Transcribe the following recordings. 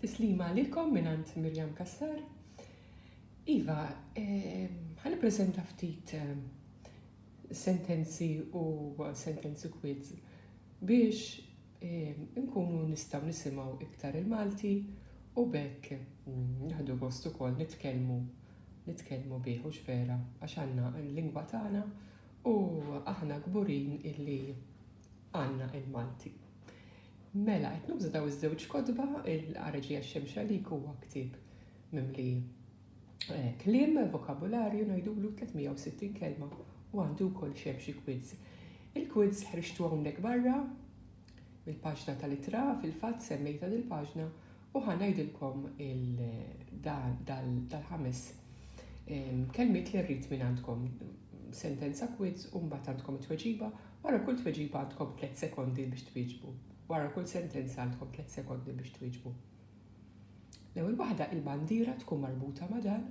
Tislima għalikom minant Mirjam Kassar. Iva, għan eh, prezenta ftit eh, sentenzi u sentenzi quiz biex eh, nkunu nistaw nisimaw iktar il-Malti u bekk mm, nħadu gost ukoll nitkellmu nitkellmu bih u xvera għax għandna l-lingwa tagħna u aħna kburin illi għandna il-Malti. Mela, qed nuża daw iż-żewġ kotba, il-Ħareġija Xemxalik huwa ktieb mimli eh, kliem, vokabularju ngħidulu 360 kelma u għandu wkoll xem xi quiz. Il-quiz ħriġtu hawnhekk barra mill-paġna tal-itra fil-fatt semmejta dil-paġna U ħa ngħidilkom dal-ħames kelmiet li rrid minn għandkom. Sentenza kwiz u mbagħad għandkom it-tweġiba. Wara kull tweġiba għandkom tliet sekondi biex twieġbu. Wara kull sentenza għandkom tliet sekondi biex twieġbu. L-ewwel waħda il-bandiera tkun marbuta ma' dan.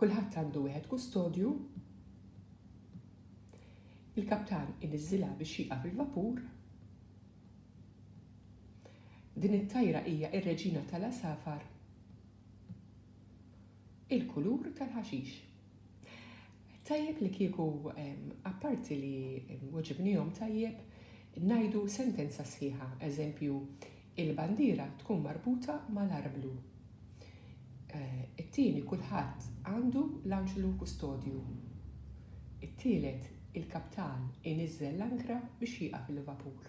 Kulħadd għandu wieħed kustodju. Il-kaptan iniżilha biex jieqaf il-vapur. Din it-tajra hija r-reġina tal-għasafar. Il-kulur tal-ħaxix. Tajjeb li kieku apparti li weġibnihom tajjeb ngħidu sentenza sħiħa, eżempju, il-bandiera tkun marbuta mal-arblu. Eh, it-tieni kulħadd għandu l-anġlu kustodju. It-tielet il-kaptan iniżżel l-ankra biex jieqaf il-vapur.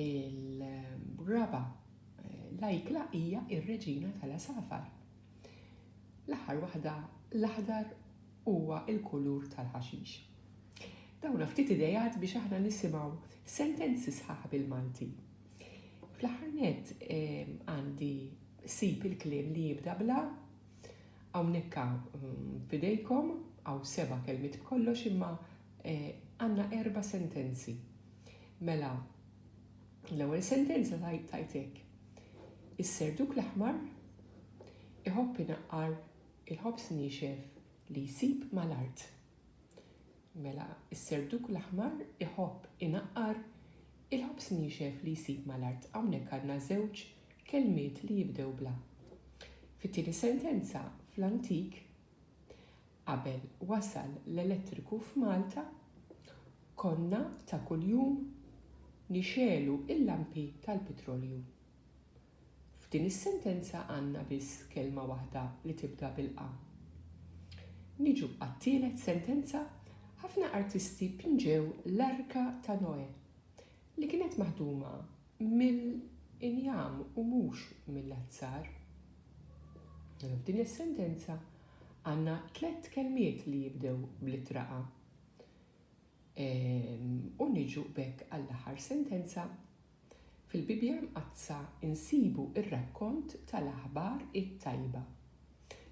Il-raba eh, l-ajkla hija ir-reġina tal-asafar. L-aħħar waħda l-aħdar huwa il-kulur tal-ħaxix. Dawna ftit idejat biex aħna nisimgħu sentenzi sħaħ bil-Malti. Fl-aħħar nett għandi sib il-kliem li jibda bla hawnhekk mm, fidejkom għaw seba' kelmiet b'kollox imma eh, għandna erba' sentenzi. Mela, l-ewwel sentenza tajtek. Is-serduk l-aħmar iħobb inaqqar il-ħobs nixef li jsib mal-art. Mela, is-serduk l-aħmar iħobb inaqqar il-ħobż niexef li jsib mal-art. Hawnhekk għandna żewġ kelmiet li jibdew bl-a. Fit-tieni sentenza, fl-antik, qabel wasal l-elettriku f'Malta, konna ta' kuljum nixegħlu l-lampi tal-pitrolju. F'din is-sentenza għandna biss kelma waħda li tibda bil-qa. Niġu għat-tielet sentenza, Ħafna artisti pinġew l-Arka ta' Noè, li kienet maħduma mill-injam u mhux mill-azzar. Mela f'din is-sentenza għandna tliet kelmiet li jibdew bl-ittra qa. Ehm, u niġu b'hekk għall-aħħar sentenza, Fil-Bibbja Mqaddsa nsibu r-rakkont tal-aħbar it-tajba.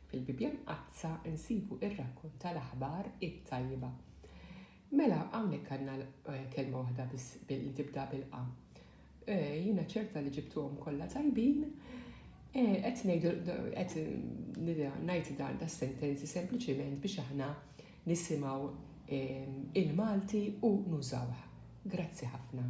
Fil-Bibbja Mqaddsa nsibu r-rakkont tal-aħbar it-tajba. Mela hawnhekk għandna kelma waħda biss li tibda bil-qa. Jiena ċerta li ġibtuhom kollha tajbin. Qed ngħidu qed ngħid dan da sentenzi sempliċiment biex aħna nisimgħu il-Malti u nużawh. Grazzi ħafna.